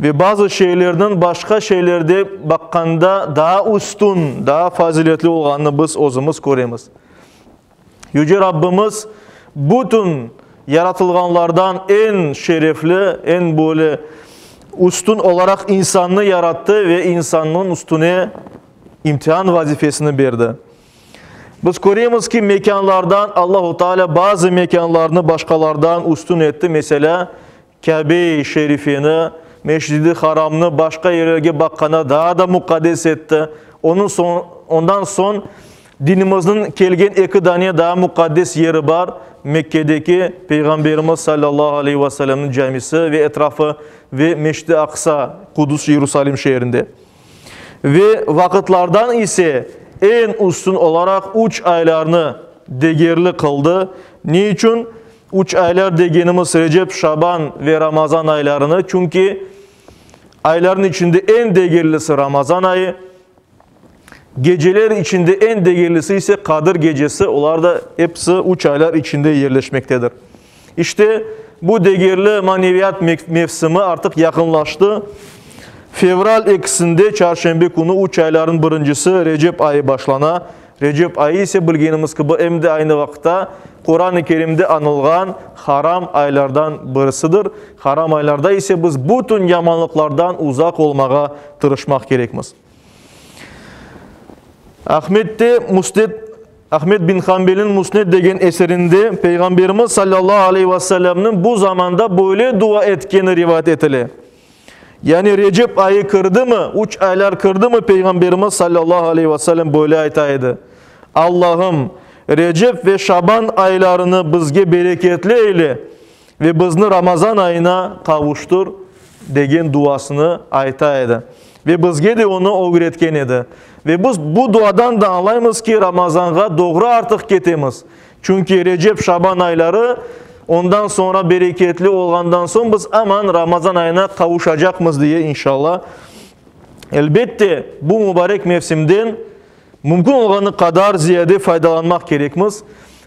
Ve bazı şeylerniñ başqa şeylerde baqqanda daa üstün, daa faziletli olğanını biz özümiz köremiz. Yüce Rabbimiz bütün yaratılğanlardan eñ şerefli, eñ böyle üstün olaraq insannı yarattı ve insannıñ üstüne imtihan vazifesini berdi. Biz köremiz ki, mekânlardan Allahu Teala bazı mekânlarnı başqalardan üstün etti. Meselâ, Kâbe-i Şerifeni, Meşcid-i Haramnı başqa yerlerge baqqanda daa da muqaddes etti. Onıñ soñ, ondan soñ dinimizniñ kelgen eki dane daa muqaddes yeri bar, Mekkedeki Peyğamberimiz sallallahu aleyhi ve sellemniñ camisi ve etrafı ve Meşcid-i Aqsa, Qudus, İerusalim şeerinde. Ve vaqıtlardan ise eñ üstün olaraq üç aylarnı degerli qıldı. Ne içün? Üç aylar degenimiz Recep, Şaban ve Ramazan aylarını, çünki aylarnıñ içinde eñ degerlisi Ramazan ayı, geceler içinde eñ degerlisi ise Qadir gecesi, olar da episi üç aylar içinde yerleşmektedir. İşte, bu degerli maneviyat mevsimi artıq yaqınlaştı. Fevral ekisinde, çarşenbe künü üç aylarnıñ birincisi, Recep ayı başlana. Recep ayı ise bilgenimiz kibi em de aynı vaqıtta Quran-ı Kerimde añılğan haram aylardan birisidir. Haram aylarda ise biz bütün yamanlıqlardan uzaq olmağa tırışmaq kerekmiz. Ahmette Musned, Ahmet bin Hanbelniñ Musned degen eserinde Peyğamberimiz sallallahu aleyhi ve sellemniñ bu zamanda böyle dua etkeni rivayet etile. Yani Recep ayı kirdimi, üç aylar kirdimi Peyğamberimiz sallallahu aleyh ve sellem böyle ayta edi, Allahım, Recep ve Şaban aylarını bizge bereketli eyle ve bizni Ramazan ayına qavuştur degen duasını ayta edi ve bizge de onı ögretken edi. Ve biz bu duadan da añlaymız ki, Ramazanğa doğru artıq ketemiz. Çünki Recep-Şaban ayları, ondan soñra bereketli olğandan soñ biz aman Ramazan ayına qavuşacaqmız diye, inşalla. Elbette, bu mubarek mevsimden mümkün olğanı qadar ziyade faydalanmaq kerekmiz.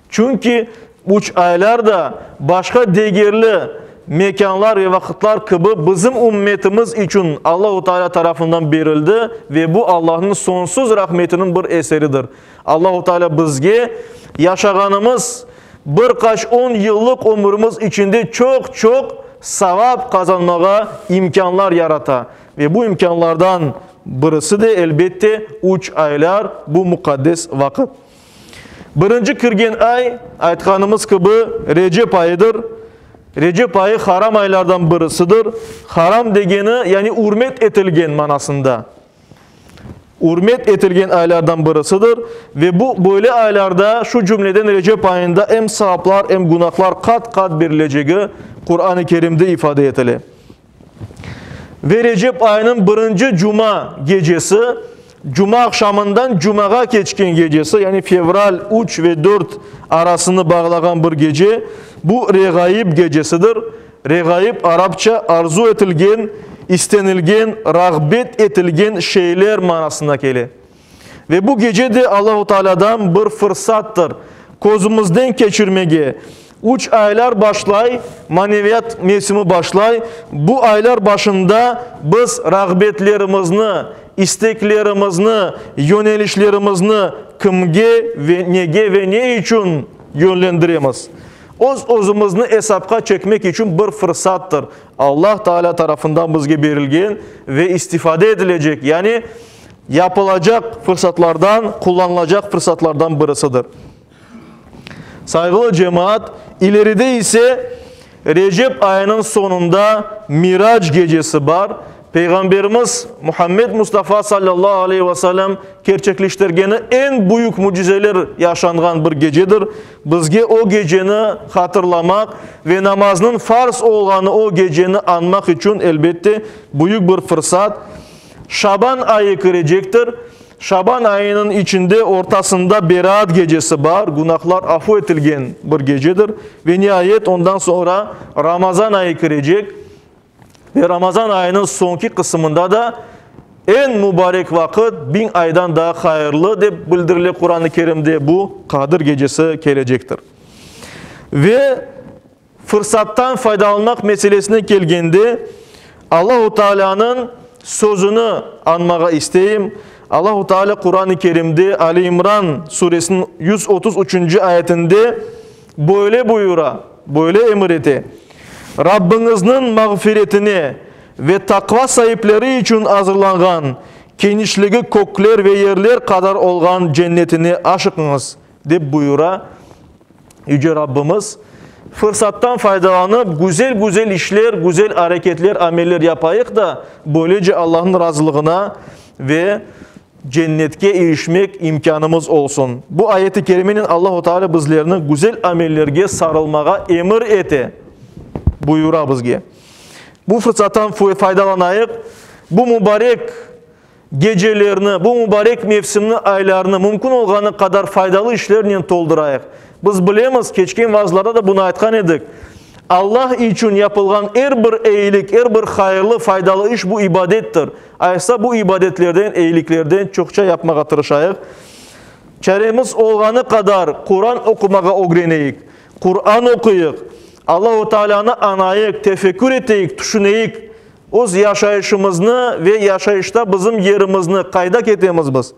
Çünki üç aylar da başqa degerli mekânlar ve vaqıtlar kibi bizim ümmetimiz içün Allahu Taalâ tarafından berildi ve bu Allahnıñ sonsuz rahmetiniñ bir eseridir. Allahu Taalâ bizge yaşağanımız bir qaç on yıllıq ömürimiz içinde çoq-çoq savap qazanmağa imkânlar yarata. Ve bu imkânlardan birisi de, elbette, üç aylar, bu muqaddes vaqıt. Birinci kirgen ay, aytqanımız kibi, Recep ayıdır. Recep ayı haram aylardan birisidir. Haram degeni, yani ürmet etilgen manasında. ürmet etilgen aylardan birisidir ve bu böyle aylarda, şu cümleden Recep ayında em savaplar, em günahlar qat-qat berilecegi Quran-ı Kerimde ifade etile. Ve Recep ayınıñ birinci cuma gecesi, cuma aqşamından cumağa keçken gecesi, yani fevral üç ve dört arasını bağlağan bir gece, bu Reğaib gecesidir. Reğaib, arapça, arzu etilgen, istenilgen, rağbet etilgen şeyler manasına kele. Ve bu gece de Allahu Taalâdan bir fırsattır, közümizden keçirmege. Üç aylar başlay, maneviyat mevsimi başlay, bu aylar başında biz rağbetlerimizni, isteklerimizni, yönelişlerimizni kimge ve nege ve ne içün yönlendiremiz? Öz-özümizni esapqa çekmek içün bir fırsattır, Allah Taalâ tarafından bizge berilgen ve istifade edilecek, yani yapılacaq fırsatlardan, qullanılacaq fırsatlardan birisidir. Sayğılı cemaat, ileride ise Recep ayınıñ soñunda Mirac gecesi bar, Peyğamberimiz Muhammed Mustafa sallallahu aleyhi ve sellem kerçekleştirgeni eñ büyük mücizeler yaşanğan bir gecedir, Bizge o geceni hatırlamaq ve namaznıñ farz olğanı o geceni añmaq içün, elbette, büyük bir fırsat. Şaban ayı kirecektir. Şaban ayınıñ içinde ortasında Beraat gecesi bar, günahlar afu etilgen bir gecedir. Ve niayet, ondan soñra Ramazan ayı kirecek. Ve Ramazan ayınıñ soñki qısımında da, Eñ mubarek vaqıt, biñ aydan daa hayırlı, dep bildirile Quran-ı Kerimde, bu Qadir gecesi kelecektir. Ve fırsattan faydalanmaq meselesine kelgende, Allahu Taalânıñ sözüni añmağa isteyim. Allahu Taala Quran-ı Kerimde Ali İmran suresiniñ yüz otuz üçünci ayetinde böyle buyura, böyle emir ete, Rabbiñizniñ mağfiretine ve taqva saipleri içün azırlanğan, kenişligi kökler ve yerler qadar olğan Cennetine aşıqıñız, dep buyura Yüce Rabbimiz, Fırsattan faydalanıp, güzel-güzel işler, güzel areketler, ameller yapayıq da, böylece Allahnıñ razılığına ve Cennetke irişmek imkânımız olsun. Bu ayet-i kerimenen Allahu Teala bizlerni güzel amellerge sarılmağa emir ete, buyura bizge. Bu fırsattan faydalanayıq, bu mubarek gecelerni, bu mubarek mevsimni, aylarnı mümkün olğanı qadar faydalı işlernen toldurayıq. Biz bilemiz, keçken vaazlarda da bunı aytqan edik, Allah içün yapılğan er bir eyilik, er bir hayırlı, faydalı iş bu ibadettir. Aysa bu ibadetlerden, eyiliklerden çoqça yapmağa tırışayıq. Çaremiz olğanı qadar Quran oqumağa ögreneyik. Quran oquyıq, Allahu Taalânı añayıq, tefekkür eteyik, tüşüneyik. Öz yaşayışımıznı ve yaşayışta bizim yerimizni, qayda ketemiz biz?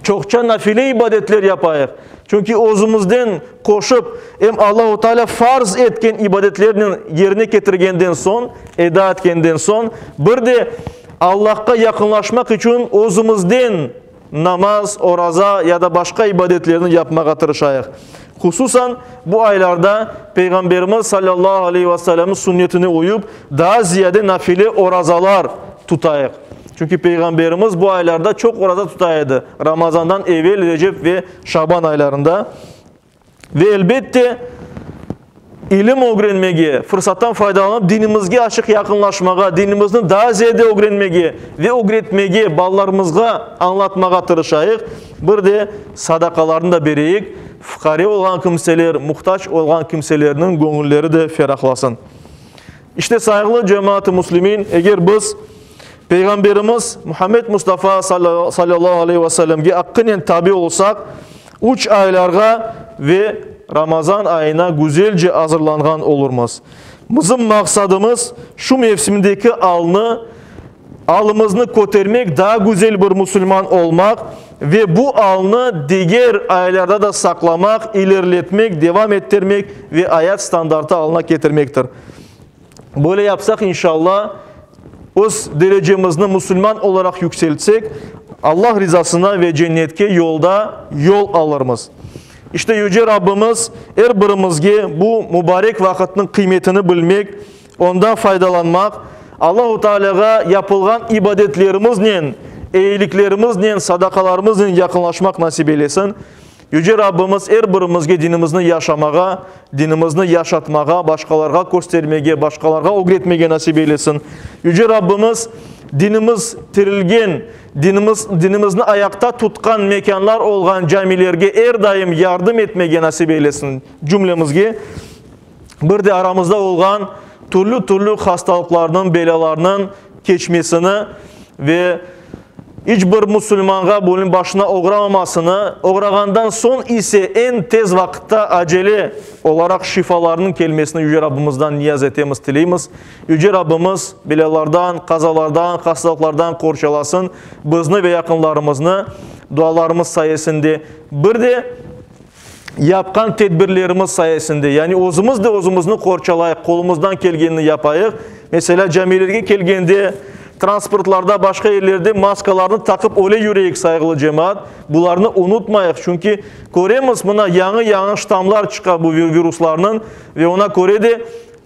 Çoqça nafile ibadetler yapayıq. Çünki özümizden qoşıp, em Allahu Teala farz etken ibadetlernen yerine ketirgenden soñ, eda etkenden soñ, bir de Allahqa yaqınlaşmaq içün özümizden namaz, oraza ya da başqa ibadetlerni yapmağa tırışayıq. Hususan, bu aylarda Peyğamberimiz salâllahu aleyhi ve sellemniñ sünnetine uyıp, daa ziyade nafile orazalar tutayıq. Çünki Peyğamberimiz bu aylarda çoq oraza tuta edi, Ramazandan evel, Recep ve Şaban aylarında. Ve, elbette, İlim ögrenmege, fırsattan faydalanıp dinimizge açıq yaqınlaşmağa, dinimizni daa ziyade ögrenmege ve ögretmege, balalarımızğa añlatmağa tırışayıq, bir de sadaqalarnı da bereyik, fuqare olğan kimseler, muhtac olğan kimselerniñ göñülleri de ferahlasın. İşte, sayğılı cemaat-ı muslimin, eger biz Peyğamberimiz Muhammed Mustafa sallallahu aleyhi ve sellemge aqqınen tabi olsaq, Üç aylarğa ve Ramazan ayına güzelce azırlanğan olurmız. Bizim maqsadımız, şu mevsimdeki alnı, alımıznı kötermek, daa güzel bir musulman olmaq ve bu alnı diger aylarda da saqlamaq, ilerletmek, devam ettirmek ve ayat standartı alına ketirmektir. Böyle yapsaq, inşalla, öz derecemizni musulman olaraq yükseltsek, Allah rizasına ve cennetke yolda yol alırmız. İşte, Yüce Rabbimiz er birimizge bu mubarek vaqıtnıñ qıymetini bilmek, ondan faydalanmaq, Allahu Taalâğa yapılğan ibadetlerimiznen, eyiliklerimiznen, sadaqalarımıznen yaqınlaşmaq nasip eylesin. Yüce Rabbimiz er birimizge dinimizni yaşamağa, dinimizni yaşatmağa, başqalarğa köstermege, başqalarğa ögretmege nasip eylesin. Yüce Rabbimiz dinimiz tirilgen, dinimiz dinimizni ayaqta tutqan mekânlar olğan camilerge er daim yardım etmege nasip eylesin cümlemizge. bir de aramızda olğan türlü-türlü hastalıqlarnıñ, belâlarnıñ keçmesini ve iç bir musulmanğa bunıñ başına oğramamasını, oğrağandan soñ ise eñ tez vaqıtta, acele olaraq şifalarnıñ kelmesini Yüce Rabbımızdan niyaz etemiz, tileymiz. Yüce Rabbımız belâlardan, qazalardan, hastalıqlardan qorçalasın bizni ve yaqınlarımıznı dualarımız sayesinde. Bir de yapqan tedbirlerimiz sayesinde, yani özümiz de özümizni qorçalayıq, qolumızdan kelgenini yapayıq. Meselâ, camilerge kelgende, transportlarda, başqa yerlerde maskalarnı taqıp öyle yüreyik, sayğılı cemaat. Bularnı unutmayıq, çünki köremiz, mına yañı-yañı ştammlar çıqa bu viruslarnıñ ve ona köre de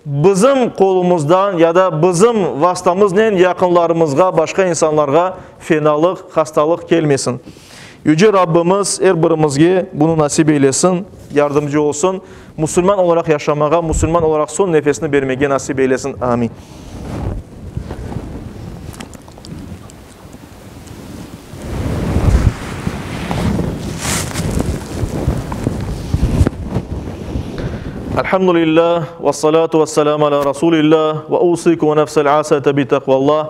bizim qolumızdan ya da bizim vastamıznen yaqınlarımızğa, başqa insanlarğa fenalıq, hastalıq kelmesin. Yüce Rabbimiz er birimizge bunı nasip eylesin, yardımcı olsun, musulman olaraq yaşamağa, musulman olaraq soñ nefesni bermege nasip eylesin. Amin. Elhamdülillah, ve salatu ve selamu ala Rasulillah, ve usikum ve nefsel asete bi teqvallah.